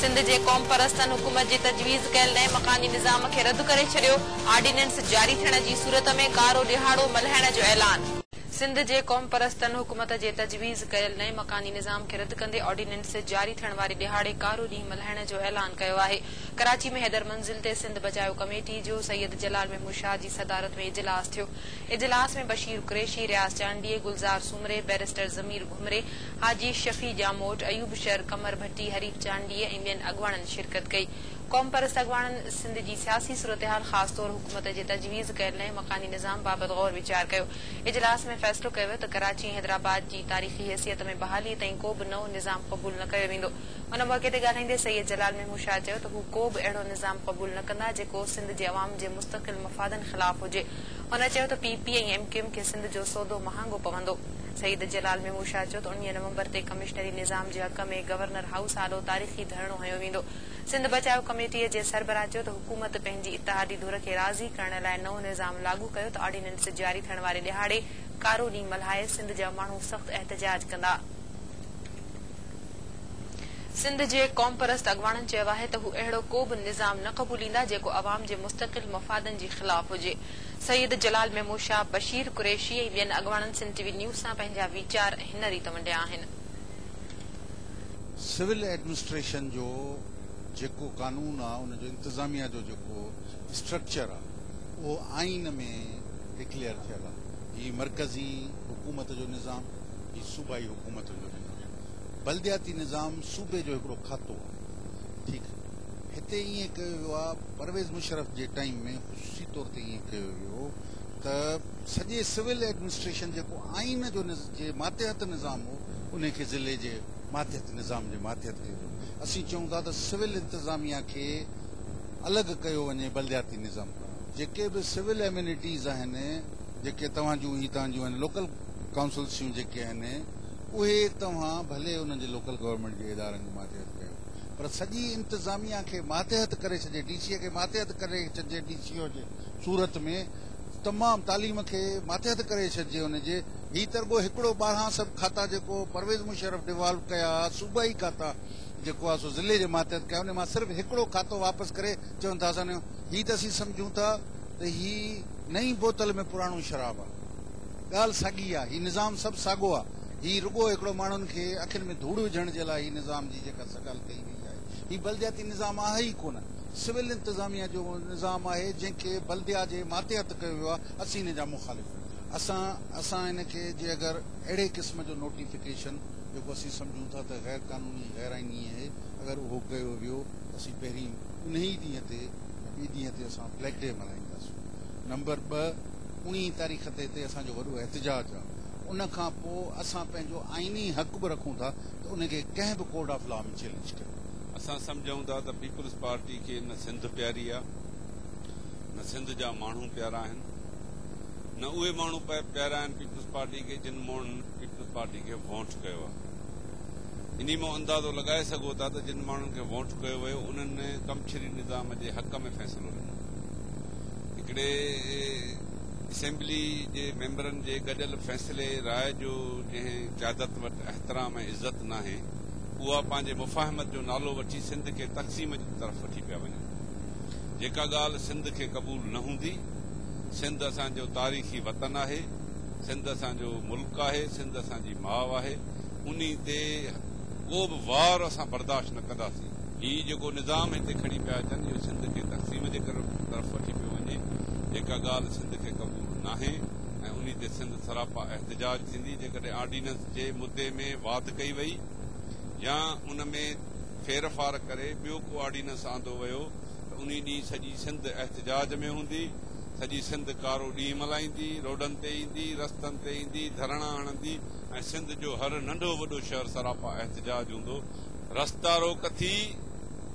سنڌ جي قومپرستن حڪومت جي تجويز ڪيل نئين مڪاني نظام کي رد ڪري ڇڏيو، آرڊيننس جاري ٿيڻ جي صورت ۾ ڪارو ڏيهاڙو ملهائڻ جو اعلان. سنڌ جي قومپرستن حڪومت جي تجويز ڪيل نئين مڪاني نظام کي رد ڪندي آرڊيننس جاري ٿيڻ واري ڏيهاڙي ڪارو ڏينهن ملهائڻ جو اعلان ڪيو آهي. ڪراچي ۾ حيدر منزل تي سنڌ بچايو ڪميٽي جو سيد جلال محمود شاهه جي صدارت ۾ اجلاس ٿيو. اجلاس ۾ بشير قريشي، رياض چانڊيي، گلزار سومري، بئريسٽر ضمير گهمري، حاجي شفيع ڄاموٽ، ايوب شر، قمر ڀٽي، حريف چانڊيي ۽ ٻين اڳواڻن شرڪت ڪئي. قومپرست اڳواڻن سنڌ جي سياسي صورتحال خاص طور حڪومت جي تجويز ڪيل نئين مڪاني نظام بابت غور ويچار ڪيو. اجلاس ۾ فيصلو ڪيو ويو ته ڪراچي ۽ حيدرآباد جي تاريخي حيثيت ۾ بحالي تائين ڪو به نئون نظام قبول نه ڪيو ويندو. ان موقعي تي ڳالهائيندي سيد جلال محمود شاهه چيو ته هو ڪو به اهڙو نظام قبول نه ڪندا جيڪو سنڌ جي عوام جي مستقل مفادن خلاف هجي. هن چيو ته P P ۽ M Q M کي سنڌ جو سودو مهانگو پوندو. سيد جلال ميمون شاهه چيو ته انويهه نومبر تي ڪمشنري نظام جي حق ۾ گورنر هائوس آڏو تاريخي ڌرڻو هنيو ويندو. سنڌ بچايو ڪميٽيء جي سربراهه چيو ته حڪومت پنهنجي اتحادي ڌر کي راضي ڪرڻ لاء نئون نظام لاڳو ڪيو ته آرڊيننس جاري ٿيڻ واري ڏهاڙي ڪارو ڏينهن ملهائي سنڌ جا ماڻهو سخت احتجاج ڪندا. سنڌ جي قومپرست اڳواڻن چيو آهي ته هو اهڙو ڪو به نظام نه قبوليندا جيڪو عوام جي مستقل مفادن جي خلاف هجي. سيد جلال ميمون شاهه، بشير قريشي ۽ ٻين اڳواڻن سنڌ ٽي وي نيوز سان پنهنجا ويچار هن ريت ونڊيا آهن. سول ايڊمنسٽريشن جو جيڪو قانون آ ان جو انتظاميه جو جيڪو اسٽرڪچر آ اهو آئين ۾ ڊڪليئر ٿيل آ هي مرڪزي حڪومت جو نظام هي صوبائي حڪومت جو نظام. بلدياتي نظام صوبي جو هڪڙو کاتو آهي ٺيڪ هتي ائين ڪيو ويو آهي پرويز مشرف جي ٽائيم ۾ خصوصي طور تي ائين ڪيو ويو هو ته سڄي سول ايڊمنسٽريشن جيڪو آئين جو جي ماتحت نظام هو ان کي ضلعي جي ماتحت نظام جي ماتحت ڪيو ويو اسين چئون ٿا ته سول انتظاميه کي الڳ ڪيو وڃي بلدياتي نظام کان جيڪي به سول اميونٽيز آهن جيڪي توهان جون هي تان جون آهن لوڪل ڪائونسلسيون جيڪي آهن اهي توهان ڀلي انهن جي لوڪل گورنمينٽ جي ادارن جي ماتحت ڪيو پر سڄي انتظاميا کي ماتحت ڪري ڇڏي ڊي سي کي ماتحت ڪري ڇڏجي ڊي سي او جي صورت ۾ تمام تعليم کي ماتحت ڪري ڇڏجي ان جي هي ترگو هڪڙو ٻارهان سڀ کاتا جيڪو پرويز مشرف ڊيوالو ڪيا صوبائي کاتا جيڪو آ سو ضلعي جي ماتحت ڪيا ان مان صرف هڪڙو کاتو واپس ڪري چون ٿا اسان هي ته اسين سمجهون ٿا ته هي نئين بوتل ۾ پراڻو شراب آ ڳالهه ساڳي آ، هي نظام سڀ ساڳو آ، هي رڳو هڪڙو ماڻهن کي اکين ۾ ڌوڙ وجهڻ جي لاء هي نظام جي جيڪا سگال ڪئي وئي آهي، هي بلدياتي نظام آهي ئي ڪونه، سول انتظاميه جو نظام آهي جنهن کي بلديا جي ماتحت ڪيو ويو آ، اسين ان جا مخالف آهيون. اسان اسان ان کي جي اگر اهڙي قسم جو نوٽيفڪيشن جيڪو اسين سمجهون ٿا ته غير قانوني غير آئيني اهي اگر اهو ڪيو ويو ته اسين پهرين انهي ئي ڏينهن تي يا ٻي ڏينهن تي اسان بليڪ ڊي ملهائينداسون نمبر ٻه انهيء تاريخ تي هتي اسان جو وڏو احتجاج آ. ان کان پوء اسان پنهنجو آئيني حق به رکون ٿا ته ان کي ڪنهن به ڪورٽ آف لا ۾ چئلينج ڪيون. اسان سمجهون ٿا ته پيپلز پارٽي کي نه سنڌ پياري آ، نه سنڌ جا ماڻهو پيارا آهن، نه اهي ماڻهو پيارا آهن پيپلز پارٽي کي جن ماڻهن پيپلز پارٽي کي وونٽ ڪيو آ. انهيء مان اندازو لڳائي سگهو ٿا ته جن ماڻهن کي وونٽ ڪيو ويو انهن ڪمڇري نظام جي حق ۾ فيصلو ڏنو. هڪڙي اسيمبلي جي ميمبرن جي گڏيل فيصلي راء جو جنهن قيادت وٽ احترام ۽ عزت ناهي اها پنهنجي مفاهمت جو نالو وٺي سنڌ کي تقسيم جي طرف وٺي پيا وڃن جيڪا ڳالهه سنڌ کي قبول نه هوندي سنڌ اسان جو تاريخي وطن آهي سنڌ اسان جو ملڪ آهي سنڌ اسان جي ماء آهي انهي تي ڪو به وار اسان برداشت نه ڪنداسين. هي جيڪو نظام هتي کڻي پيا اچن اهو سنڌ کي تقسيم جي طرف وٺي پيو وڃي جيڪا ڳالهه سنڌ کي قبول ناهي ۽ انهي تي سنڌ سراپا احتجاج ٿيندي جيڪڏهن آرڊيننس جي مدي ۾ واڌ ڪئي وئي يا ان ۾ ڦيرڦار ڪري ٻيو ڪو آرڊيننس آندو ويو ته انهي ڏينهن سڄي سنڌ احتجاج ۾ هوندي سڄي سنڌ ڪارو ڏينهن ملهائيندي روڊن تي ايندي رستن تي ايندي ڌرڻا هڻندي ۽ سنڌ جو هر ننڍو وڏو شهر سراپا احتجاج هوندو رستا روڪ ٿي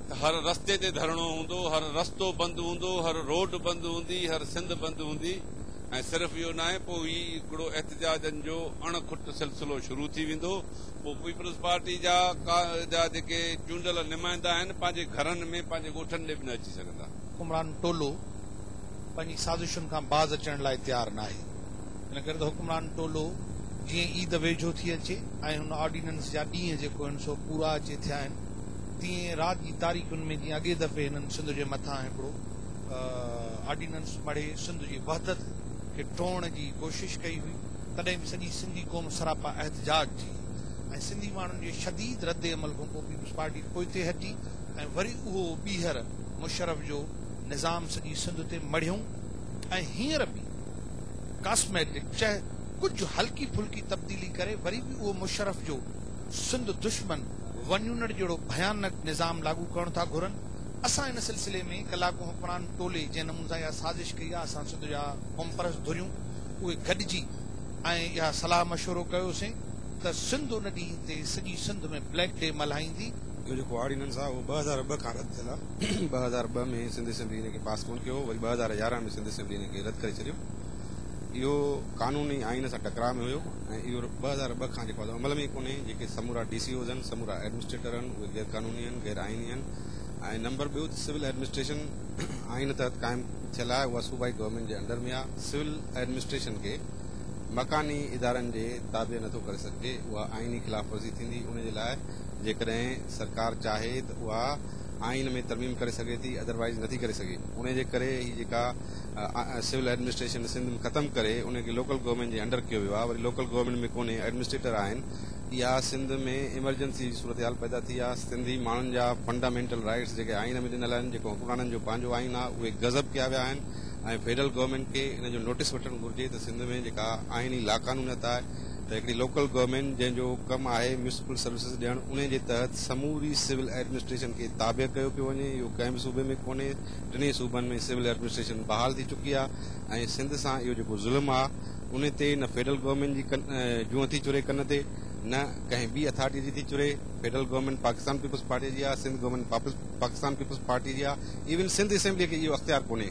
ته هر رستي تي ڌرڻو هوندو، هر رستو بند هوندو، هر روڊ بند هوندي، هر سنڌ بند هوندي ۽ صرف اهو ناهي پوء هي هڪڙو احتجاجن جو اڻ کٽ سلسلو شروع ٿي ويندو پوء پيپلز پارٽي جا جا جيڪي چونڊيل نمائندا آهن پنهنجي گهرن ۾ پنهنجي ڳوٺن ڏي به نه اچي سگهندا. حڪمران ٽولو پنهنجي سازشن کان باز اچڻ لاء تيار ناهي. ان ڪري ته حڪمران ٽولو جيئن عيد ويجهو ٿي اچي ۽ هن آرڊيننس جا ڏينهن جيڪو آهن سو پورا اچي ٿيا آهن تيئن رات جي تاريخن ۾ جيئن اڳي دفعي هنن سنڌ جي مٿان هڪڙو آرڊيننس مڙهي سنڌ جي وحدت کي ٽوڙڻ جي ڪوشش ڪئي هئي تڏهن به سڄي سنڌي قوم سراپا احتجاج جي ۽ سنڌي ماڻهن جي شديد رد عمل کان پوء پيپلز پارٽي پوئتي هٽي ۽ وري اهو ٻيهر مشرف جو نظام سڄي سنڌ تي مڙهيون ۽ هينئر به ڪاسميٽڪ چه ڪجهه هلڪي ڦلڪي تبديلي ڪري وري به اهو مشرف جو سنڌ دشمن ونيونڙ جهڙو ڀيانڪ نظام لاڳو ڪرڻ ٿا گهرن اسان ان سلسلي ۾ ڪلاڪو حڪمران ٽولي جنهن نمون سان اها سازش ڪئي آهي اسان سنڌ جا قومپرست ڌريون اهي گڏجي ۽ اها صلاح مشورو ڪيوسين ته سنڌ ان ڏينهن تي سڄي سنڌ ۾ بليڪ ڊي ملهائيندي. اهو جيڪو آرڊيننس آهي اهو ٻه هزار ٻه کان رد ٿيل آهي ٻه هزار ٻه ۾ سنڌ اسيمبلي ان کي پاس ڪون ڪيو هو وري ٻه هزار يارهن ۾ سنڌ به ان کي رد ڪري ڇڏيو. اهو قانون ئي آئين سان ٽڪراء ۾ هيو ۽ اهو ٻه هزار ٻه کان جيڪو آهي سو عمل ۾ ئي ڪونهي. جيڪي سمورا ڊي سي اوز آهن، سمورا ايڊمنسٽريٽر آهن، اهي غير قانوني آهن، غير آئيني آهن ۽ نمبر ٻيو ته سول ايڊمنسٽريشن آئين تحت قائم ٿيل آهي، اها صوبائي گورنمينٽ جي انڊر ۾ آهي. سول ايڊمنسٽريشن کي مڪاني ادارن جي تابع نه ٿو ڪري سگهجي، اها آئيني خلاف ورزي ٿيندي، ان جي لاء جيڪڏهن سرڪار چاهي ته اها آئين ۾ ترميم ڪري سگهي ٿي اڌروائيز نٿي ڪري سگهي انهي جي ڪري هي جيڪا سول ايڊمنسٽريشن سنڌ ۾ ختم ڪري انهي کي لوڪل گورنمينٽ جي انڊر ڪيو ويو آهي وري لوڪل گورنمينٽ ۾ ڪونهي ايڊمنسٽريٽر آهن اها سنڌ ۾ ايمرجنسي جي صورتحال پيدا ٿي آهي سنڌي ماڻهن جا فنڊامينٽل رائيٽس جيڪي آئين ۾ ڏنل آهن جيڪو حڪمرانن جو پنهنجو آئين آهي اهي غضب ڪيا ويا آهن ۽ فيڊرل گورنمينٽ کي ان جو نوٽيس وٺڻ گهرجي ته سنڌ ۾ جيڪا آئيني لاقانونيت آهي ته هڪڙي لوڪل گورنمينٽ جنهن جو ڪم آهي ميونسپل سروسز ڏيڻ انهي جي تحت سموري سول ايڊمنسٽريشن کي تابع ڪيو پيو وڃي اهو ڪنهن به صوبي ۾ ڪونهي ٽنهي صوبن ۾ سول ايڊمنسٽريشن بحال ٿي چڪي آهي ۽ سنڌ سان اهو جيڪو ظلم آهي انهي تي نه فيڊرل گورنمينٽ جي جونء ٿي چري ڪن تي نه ڪنهن ٻي اٿارٽي جي ٿي چري فيڊرل گورنمينٽ پاڪستان پيپلز پارٽي جي آهي سنڌ گورنمينٽ پاڪستان پيپلز پارٽي جي آهي ايون سنڌ اسيمبلي کي اهو اختيار ڪونهي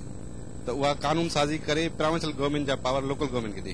ته اها قانون سازي ڪري پراونشل گورنمينٽ جا پاور لوڪل گورنمينٽ کي ڏي.